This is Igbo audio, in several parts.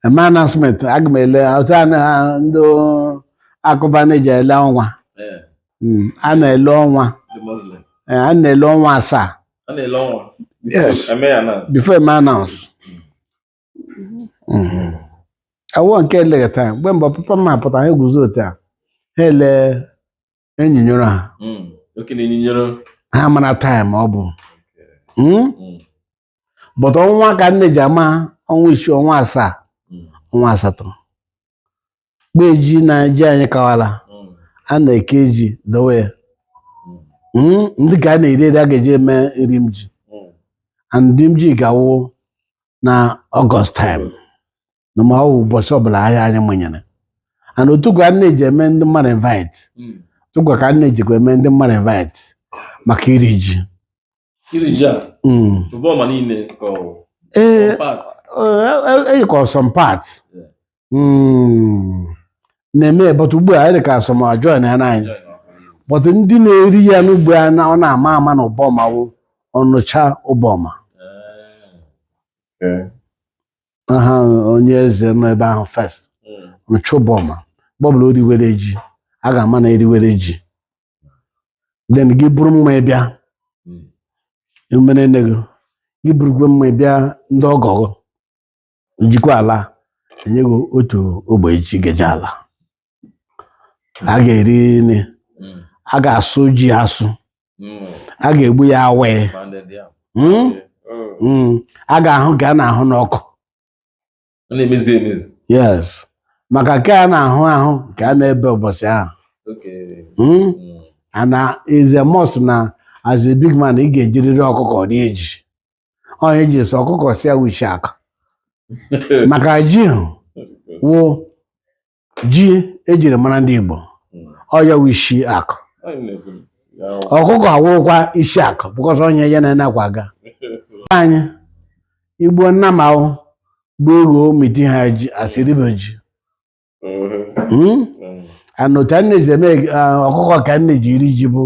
eme announcement aga m ele otu a na ndị akụba na-eji ele ọnwa Ee, Mm, a na-ele ọnwa ndị Muslim. Eh, a na-ele ọnwa asaa A na-ele ọnwa. Yes. Eme ya na. before eme announce Mm. awọ nke eleghị taịm mgbe mbụ papa m apụta ha eguzo otu a ha ele enyinyoro ha Mm. Oke na-enyinyere. ha mara taịm ọ bụ Mm? Mm. but ọnwa ka a na-eji ama ọnwa isii ọnwa asaa Mm. ọnwa asatọ mgbe ji na ji anyị kawala Mm. a na-eke ji dowe ya Mm. Mm, ndị ka a na-eri eri a ga-eji eme nri m ji Mm. and nri m ji ga-awụ na ọgọst taịm na ma ọ bụ ụbọchị ọbụla ahịa anyị manyere and otukwa a na-eji eme ndị mmadụ invite Mm. otukwa ka a na-ejikwa eme ndị mmadụ invite maka iri ji Iri ji a, Mm. Ụbọma niile ka ọ ee ọ part. dị ka ọ some part Yeah. Mm. na-eme but ugbu a dị ka some joinana anyị but ndị na-eri ya n'ugbu a na ọ na-ama ama na Ụbọma wụ Ọnịcha Ụbọma Eh. Okay. aha onye eze nọ ebe ahụ first Ọnịcha Ụbọma mgbe ọbụla o riwere ji a ga-ama na eriwere ji then gị buru mmaị bịa umerenne gị gị burukwa mmaị bịa ndị ọgọ gị jikwa ala enye gị otu ogbe ji gị eji ala a ga-eri nri Mm. a ga-asụ ji asụ Mm. a ga-egbu ya awaị Pounded yam. Mm? Mm. Mm. a ga-ahụ nke a na-ahụ n'ọkụ Ọ na-emezu emezu. yes maka nke a na-ahụ ahụ ka a na-ebe ụbọchị ahụ Okay. Mm? Mm. and is a must na as a big man ị ga-ejiriri ọkụkọ rie ji ọ ihe e ji sị ọkụkọ sị ya wụ ishi akụ maka ji ahụ wụ ji ejiri mara ndị Igbo ọ ya wụ isi akụ ọkụkọ awụrụkwa isi akụ because ọ ihe ya na ya na-akwọ aga anyị egbu nnama ọ bụ eghu miti ha ji asịrịbe ji Hmm? and otu a na-eji eme ah, ọkụkọ ka a na-eji eri ji bụ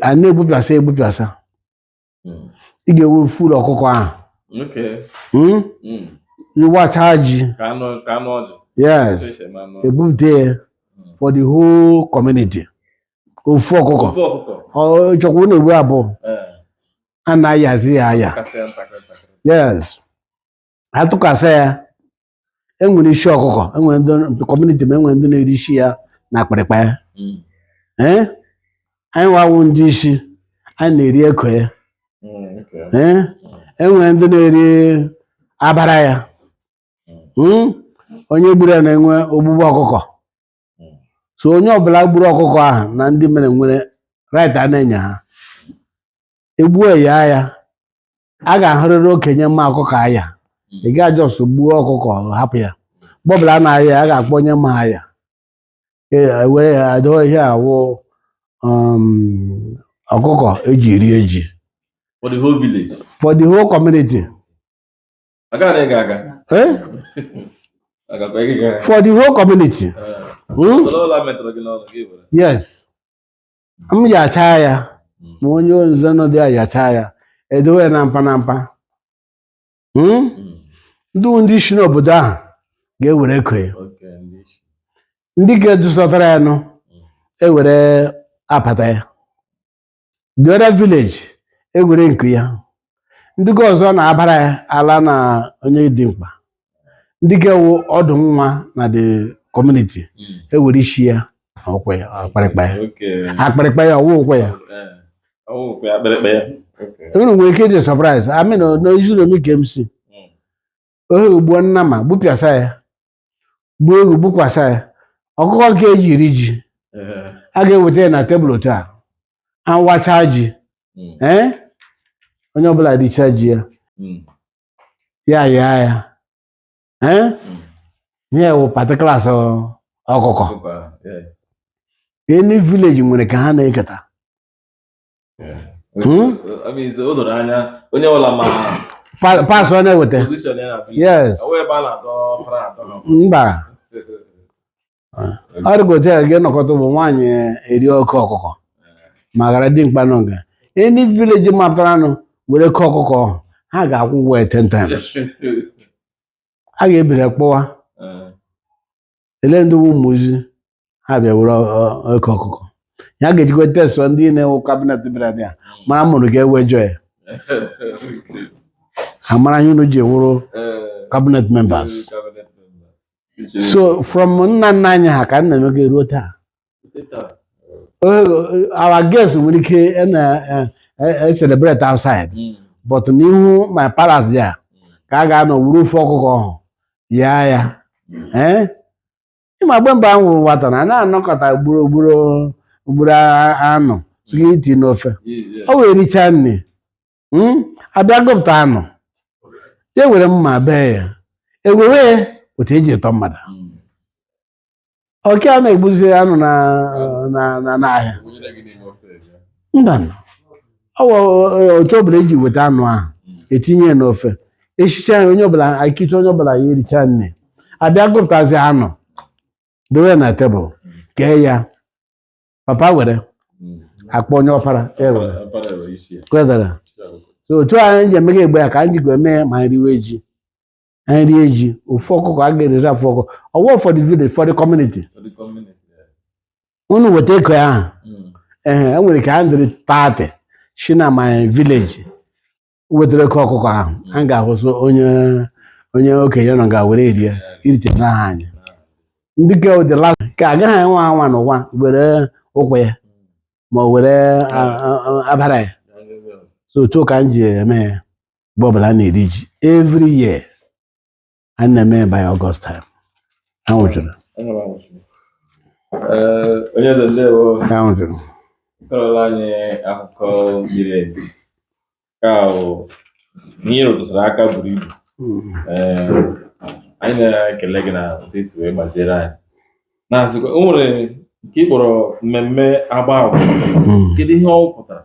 a na-egbupịasa egbupịasa Mm. ị ga-ewe full ọkụkọ ahụ Okay. Mm? Mm. ịwacha ji Ka anụ ka anụ ọjị. yes Otu esi eme anụ ọjị. ebupụta ya for the whole community ofu ọkụkọ Ofu ọkụkọ. ọ chọkwa unu egbu abụọ Ee. a na-ayazi ya aya Kasị ya ntakịrị ntakịrị. yes atụkasa ya enwere isi ọkụkọ enwere ndị community ma enwere ndị na-eri isi ya na akpịrịkpa ya Mm. ee anyịnwa wụ ndị isi anyị na-eri eko ya Mm, okay. ee enwere ndị na-eri abara ya Mm? onye gburu ya na-enwe ogbugbu ọkụkọ Mm. so onye ọbụla gburu ọkụkọ ahụ na ndị mere nwere right a na-enye ha egbuo ya ya a ga-ahụrịrị okenye ma ọkụkọ aya ị gaa just gbuo ọkụkọ hapụ ya mgbe ọbụla a na-aya ya, a ga-akpọ onye ma aya Ee, were ya adoo ihe a wụ ọkụkọ eji eri ji for the whole village for the whole community aga na ị ga-aga eh? agakwa ị ga-aga for the whole community Eh, Hmm? soro ụlọ metụrụ gị n'ọnụ gị were yes m yachaa ya Mm. ma onye nze nọ dị ya yachaa ya edowe ya na mpa na mpa Mm? Mm. ndị ndị isi n'obodo ahụ ga-ewere eko ya Okay, ndị isi. ndị ka dusọtara ya nụ ewere apata ya the other village ewere nku ya ndị ka ọzọ na abara ya ala na onye dị mkpa ndị ka wụ ọdụ nwa na the community Mm. ewere isi ya na ụkwụ ya akpịrịkpa ya Okay. akpịrịkpa ya ọ wụ ụkwụ ya Eh, ọ wụ kwa akpịrịkpa ya. Okay. unu nwere ike ịdị surprise I mean n'Uzinomi ke m si Mm. ohe i gbuo nnama gbupịasa ya gbuo eghu gbukwasa ya ọkụkọ nke eji eri ji a ga-eweta ya na table otu a awacha ji ee onye ọbụla richa ji ya ya yaa ya ee ihe wụ particular ọkụkọ any village nwere ka ha na-eketa Hmm? parts ọ na-eweta yes mba ọ dịgote ya gị nọkọta bụ nwaanyị eri oke ọkụkọ ma ghara dimkpa nọ nga any village mapụtaranụ were eko ọkụkọ ha ga-akwụ ụgwọ ya 10 times a ga-ebiri kpọwa ele ndị Umuzi ha bịa were ọ- ọ- eko ọkụkọ ya ga-ejikwa tesụọ ndị nine wụ cabinet bịara dị ya mara mụrụ ga-ewejọ ya amara ihe unu ji wụrụ cabinet members so from nna nna anyị ha ka a na-eme ga ruo taa our guests nwere ike na-celebrate outside hmm. but n'ihu my palace ya ka a ga-anọ wuru ofe ọkụkọ ọhụ ya ya eh? ịma mgbe mgbe a wụrụ nwata na na-anọkọta ugboro ugboro ugboro anụ tụga iti n'ofe o wee richaa nri hmm? abịa gụpụta anụ ya e were mma bee ya ewere otu eji etọ mmadụ hmm. ọke a na-egbuzi anụ na na na n'ahịa Gụnyere gị n'ime ofe ebe. mba nụ. ọ wụ otu ọbụla eji weta anụ ahụ etinye ya n'ofe eshicha ya onye ọbụla akịcha onye ọbụla ya ericha nri abịa gụpụtazi anụ dowe ya na tebụl kee ya papa were Mm. akpọ onye ọpara ya were Ọpara were isi ya. kwedara Isi ọkụkọ. so otu a anyị ji eme mgbe ahụ ka anyị ji ga eme ma anyị riwe ji rie ji ofe ọkụkọ a ga-erizi ofe ọkụkọ ọ wụ for the village for the community for the community. Yeah. unu weta eko ya ahụ Mm. ee e nwere ka a dịrị tati si na my village wetara eko ọkụkọ ahụ a ga-ahụsụ onye onye okenye nọ ga-were erie irite n'aha anyị ndị ke ụdịla ka agaghị enwe anwa n'ụwa were ụkwụ ya ma ọ were a- a- a- abara ya Yeah, yeah, yeah. so otu ka m ji eme ya mgbe ọbụla a na-eri ji every year a na-eme ya by August time anwụ jụrụ Enwere anwụ chukwu. Ee, onye eze ndewo anwụ jụrụ kọrọla anyị akụkọ miri emi ka bụ ihe rụtụsara aka buru ibu Mm. Ee, anyị na-ekele gị na otu i si wee gbaziere anyị na-asịkwa o nwere nke ị kpọrọ mmemme agba agwụ Mm. kedu ihe ọ pụtara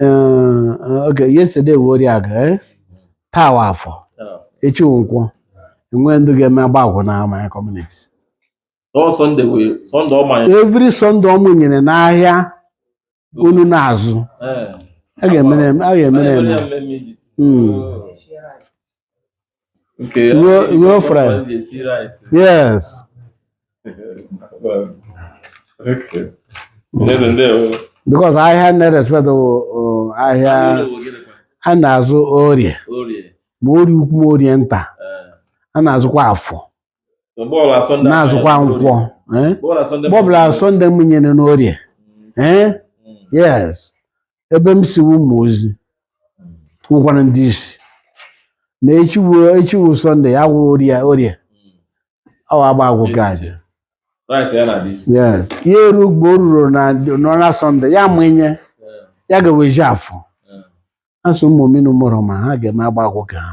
Eh, eh, okay yesterday wụ Orieagụ eh? taa wụ afọ echi wụ nkwọ enwe ndị ga-eme agba agwụ na my community Ọ Sunday wee Sunday ọ manyere. every Sunday ọ mụnyere n'ahịa unu na-azụ Eh. a ga-emere a ga-emere Manyere eme ya mmemme iji. Mm. Okay. Ruo ruo fry. Yes. okay. Ndewo ndewo. Because ahịa a na-respect bụ ahịa a na-azụ orie. Orie. Ma orie ukwu ma orie nta. A na-azụkwa afọ. na-azụkwa nkwọ eh? mgbe ọbụla sọnde mụnyere n'orie eh? yes ebe m si ụmụ ozi wụkwara ndị isi na echi wụ sọnde ya wụrụ orie orie ọ agba agwụ ka aja yes ya eru mgbe o ruru na sọnde ya mụnye ya ga-ewezi afọ asụ ụmụ mmiri mụrụ ma ha ga-eme agba agwụ ka ha